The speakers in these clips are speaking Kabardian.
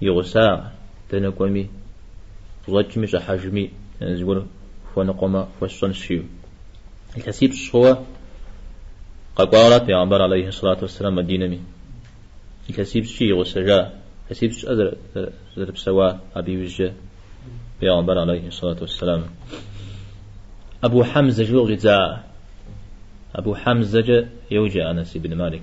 и гъусагъ, дэнэ кӏуэми, щӏэкӏми щӏыхьэжми, зыгуэр хуэныкъуэмэ, хуэсщӏэнщ, жиӏэу. Илъэсипщӏ хъууэ къэкӏуауэрат пегъэмбар алейхьи сэлату уэсселам Мадинэми. Илъэсипщӏкӏи игъусэжа, илъэсипщӏщ, жиӏэ, зэрыпсэуа абы иужькӏэ пегъэмбар алейхьи сэлату уэсселам. Абу Хьэмзэ жиӏэу къыщӏидза, Абу Хьэмзэкӏэ йоджэ Анэс ибн Малик.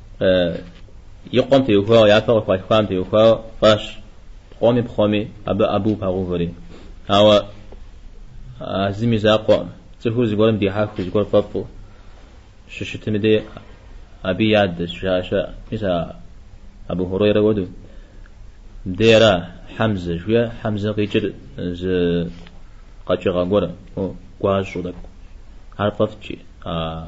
и къуэм теухуауэ, япэ къыхуалъхуам теухуауэ фӏащ, къуэми пхъуми абы Абу пагъэувэри. Ауэ а зым и закъуэкъым, цӏыхур зыгуэрым дихьэхыу, зыгуэр фӏэфӏу щыщытым дей абы и адэщ, жаӏэ щыӏэ, мис а Абу Хурейрэ хуэдэу, дей ара, Хьэмзэ, жиӏэ, Хьэмзэ къикӏыр зы къэкӏыгъэ гуэр, гуащӏэу тӏэкӏу, ар фӏэфӏт, жи а.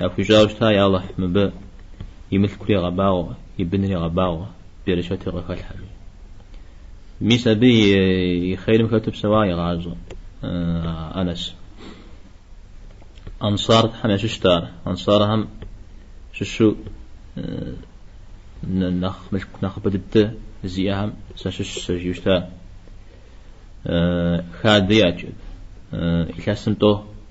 Яхуищӏауэ щыта, я Алыхь, мыбы и мылъкури гъэбагъуэ, и бынри гъэбагъуэ, берычэтыр къыхэлъхьэ жери. Мис абы и хъейрым хэту псэуа игъащӏэ Анэс. Ансархэм ящыщт ар. Ансархэм щыщу нэхъ мылъку нэхъыбэ дыдэ зиӏэхэм сащыщщ сэ жиӏэу щыта. Хадэ иӏэт. Илъэсым тӏо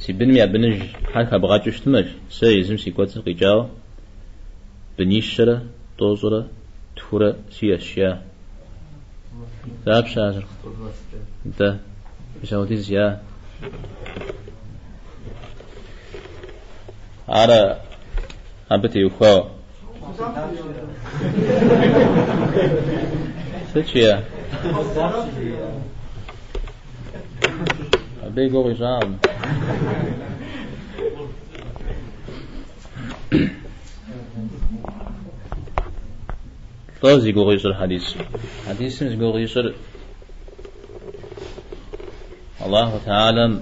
Си быным я быныжхэр хэбгъэкӏыу щытымэ, жи, сэ езым си кӏуэцӏым къикӏауэ бынищэрэ тӏощӏрэ тхурэ сиӏэщ, я. Дапщэ азыр? Дэ, Бисаудиз, я. Ара абы теухуауэ? Сыт жиӏэ? Абы и гугъу ищӏакъым. Лӏо зи гугъу ищӏыр хьэдисым? Хьэдисым зи гугъу ищӏыр Аллаху Теалэм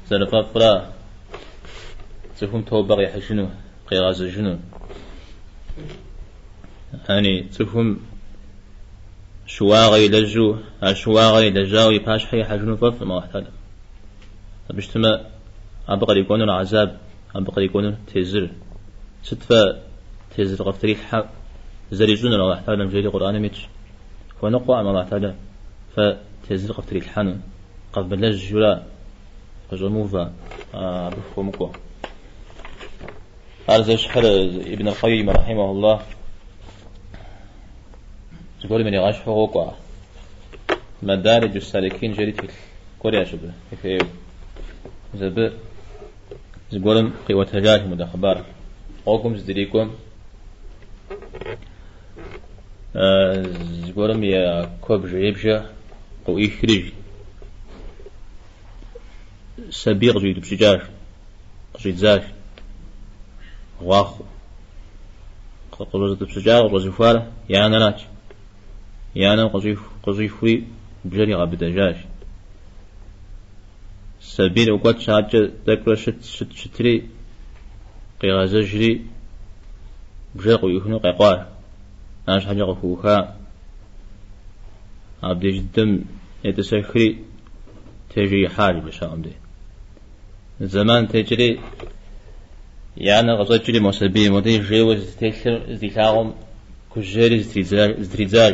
зэрыфӏэфӏра цӏыхум тобэ къихьыжыну. къигъэзэжыну. Яни цӏыхум щыуагъэ илэжьу, а щыуагъэ илэжьауэ и пащхьэ ихьэжыну фӏэфӏкъым Аллахь Теалэ. Абы щытмэ, абы кърикӏуэнур гьэзаб, абы кърикӏуэнур тезыр. Сыт фэ тезыр къыфтрилъхьэ зэрищӏынур Аллахь Теалэм жери Къурӏаным итщ. Хуэныкъуэкъым Аллахь Теалэ фэ тезыр къыфтрилъхьэну, къэвмылэжьу ара? Къыщӏэмыувэ, абы фыхуэмыкӏуэ. Ар зэщхьыр Ибн аль-Къаййим рахьимахуллах зыгуэрым иригъэщхьу къокӏуэ. Мадариджу саликин жери тхылъ гуэр иӏэщ абы ефееу. Зэбы зыгуэрым къиӏуэтэжащ мыдэ хъыбар. Гъуэгум здрикӏуэм Зыгуэрым я куэбжэ ибжэ къыӏуихри сабий къыщӏиутӏыпщыкӏащ, къыщӏидзащ. Гъуахъуэ. Къыщӏэзытӏыпщыкӏар, къыщӏэзыхуар и анэращ. И анэм къыщӏихури бжэр игъэбыдэжащ. Сабийр къыкӏуэт адэкӏэ тӏэкӏурэ щыт щыт щытри, къигъэзэжри, бжэр къыӏуихыну къекъуар. Арщхьэкӏэ къыхуӏуха. Абдеж дыдэм етӏысэхри, тежи ихьар бжэщхьэӏум дей. Зэман текӏри, и анэр къыщӏэкӏри мо сабийр модей жейуэ зытелъыр здилъагъум кӏуэжри зытридзар, зытридзар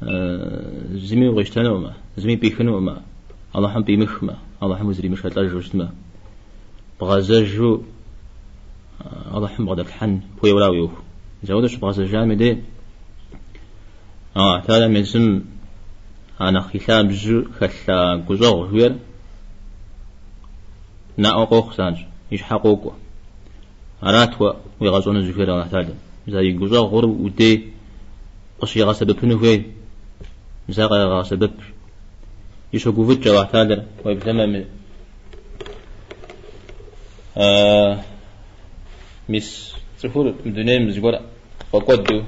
зыми укъищтэнукъым зыми пихынукъым Алыхьым пимыхмэ Алыхьым узримышэлӏэжу щытмэ бгъэзэжу алыхьым бгъэдэплъхьэн хуейуэра уи ӏуэху зэуэ щыбгъэзэжам деж Алыхьталэм езым анэхъ и лъабжьу хэлъа гущӏэгъу жиӏэр наӏуэ къохъу занщ и щхьэ къокӏуэ арат уэ уигъэщӏэну зыхуейр Алыхьталэм зэ и гущӏэгъур удей къыщигъэсэбэпыну хуей, зэ къегъэсэбэп. И щогуфӏыкӏ Аллахьталэр уеблэмэ. Мис цӏыхур мы дунейм зыгуэр фӏэкӏуэду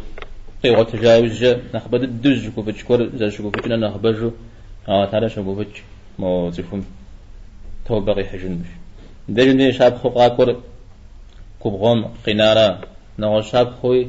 къигъуэтыжа иужькӏэ нэхъыбэ дыдэу зыщыгуфӏыкӏ гуэр зэрыщыгуфӏыкӏыным нэхъыбэжу Аллахьталэр щогуфӏыкӏ мо цӏыхум тобэ къихьыжыным деж. И ди щапхъэу къакӏуэр губгъуэм къинара, нэгъуэщӏ щапхъэуи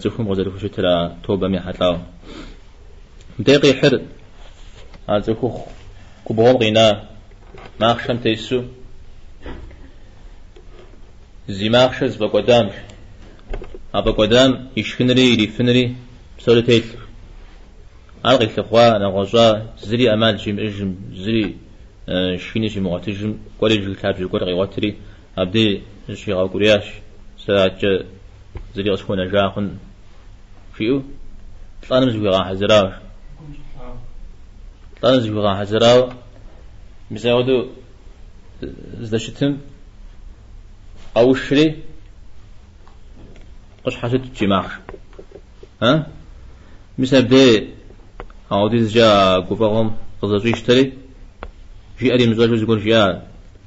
Цӏыхум къызэрыхущытыр а тобэм ехьэлӏауэ. Мыбдеж къихьыр а цӏыхухъу губгъуэм къина махъшэм тесу зи махъшэр зыфӏэкӏуэдарщ. А фӏэкӏуэдам ишхынри ирифынри псори телъх. Ар къилъыхъуа, нэгъуэщӏа, зыри ӏэмал щимыӏыжым, зыри шхини щимыгъуэтыжым, кӏуэри жыг лъабжьэ гуэр къигъуэтри, Абдей зыщигъэукӏуриящ, Сэ адэкӏэ зыри къысхуэнэжакъым, жиӏэу лӏэным зыхуигъэхьэзырауэ. Лӏэным зыхуигъэхьэзырауэ мис апхуэдэу здэщытым къэушри къыщхьэщытщ и махъш. А? Мис Абдей апхуэдизкӏэ а гуфӏэгъуэм къызэщӏищтэри, жиӏэр имыщӏэжу зыгуэр жиӏа?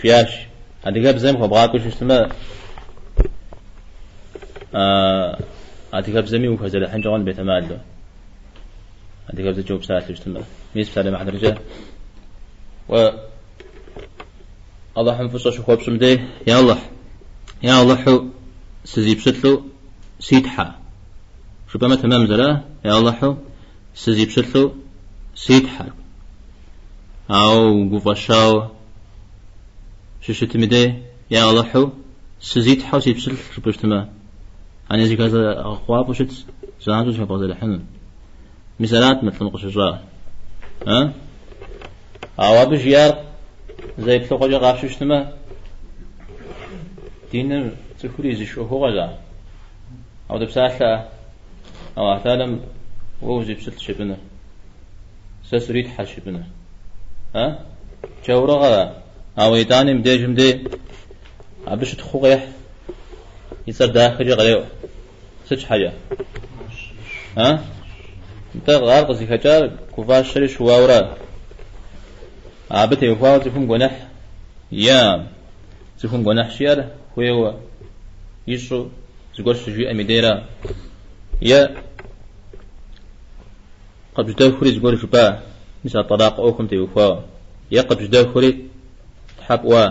Жиӏащ, Адыгэбзэм хуэбгъакӏуэу щыщытмэ, адыгэбзэми ухэзэрыхьынкӏэ хъун бетэмалу, адыгэбзэкӏэ упсалъэу щытмэ. Мис псалъэм и хьэтыркӏэ уэ Алыхьым фӏыщӏэ щыхуэпщӏым дей, я Алыхь, я Алыхьу сызипщылӏу си Тхьэ, жыпӏэмэ тэмэм зэра, я Алыхьу сызипщылӏу си Тхьэр. Ауэ угуфӏэщауэ щыщытми дей, я Алыхьу, сызитхьэу си пщылӏ жыпӏэу щытмэ, ани зыхэлъэгъэкъуафӏэу щыт, занщӏэу зыхэбгъэзэрыхьыну. Мис арат мы лӏым къыщыщӏар. А? Ауэ абы жиӏар зэ еплъыгъуэкӏэ къапщтэу щытмэ, диныр цӏыхур изыш ӏуэхугъуэра? Ауэ дыпсалъэ-а, Алыхьталэм уэ усипщылӏщ жыпӏэныр. Сэ суритхьэщ жыпӏэныр. А? Джаурыгъэра? Ауэ итӏани мыбдежым дей абы щытхъуу къехь. И цӏэр дахэкӏэ къреӏуэ. Сыт щхьэкӏэ? А? Нтӏэ, ар къызыхэкӏар гуфӏащэри щыуауэра? Абы теухуауэ цӏыхум гуэныхь иӏэкъым. Цӏыхум гуэныхь щиӏэр хуейуэ, ищӏу, зыгуэр щыжиӏэм и дейра? Е. Къыбжьэдэхури зыгуэр жыпӏа, мис а тӏэлакъ ӏуэхум теухуауэ? Е къыбжьэдэхури тхьэ пӏуа?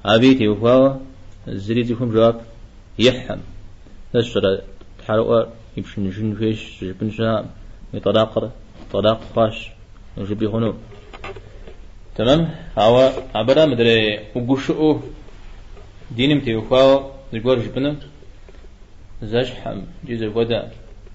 Абыи теухуауэ зыри цӏыхум жэуап ихьым. Сэ сщӏэрэ, тхьэрыӏуэ ипшыныжын хуейщ жыпӏэн щыӏэкъым, уи тӏэлакъыр тӏэлакъ хъуащ жыпӏи хъуну. Тэмэм, ауэ абыра мыдрей угушыӏэу диным теухуауэ зыгуэр жыпӏыну? Зэщхьым икӏи зэхуэдэ.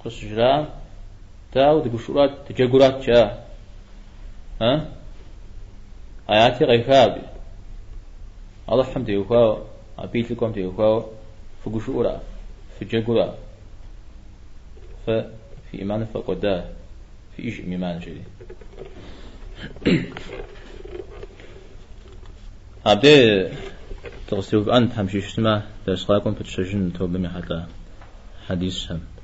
Къыщыжраӏэм, дэ ауэ дыгушыӏурат, дыджэгурат жа? Э? ӏэяти къеха абы. Алыхьым теухуауэ, абы и лӏыкӏуэм теухуауэ фыгушыӏура, фыджэгура? Фэ фи ӏиманыр ффӏэкӏуэда, фиӏэжкъым ӏиман, жери. Абдей дыкъызэтеувыӏэн Тхьэм жиӏэу щытмэ, дерс къакӏуэм пытщэжын тобэм ехьэлӏа хьэдисхэм.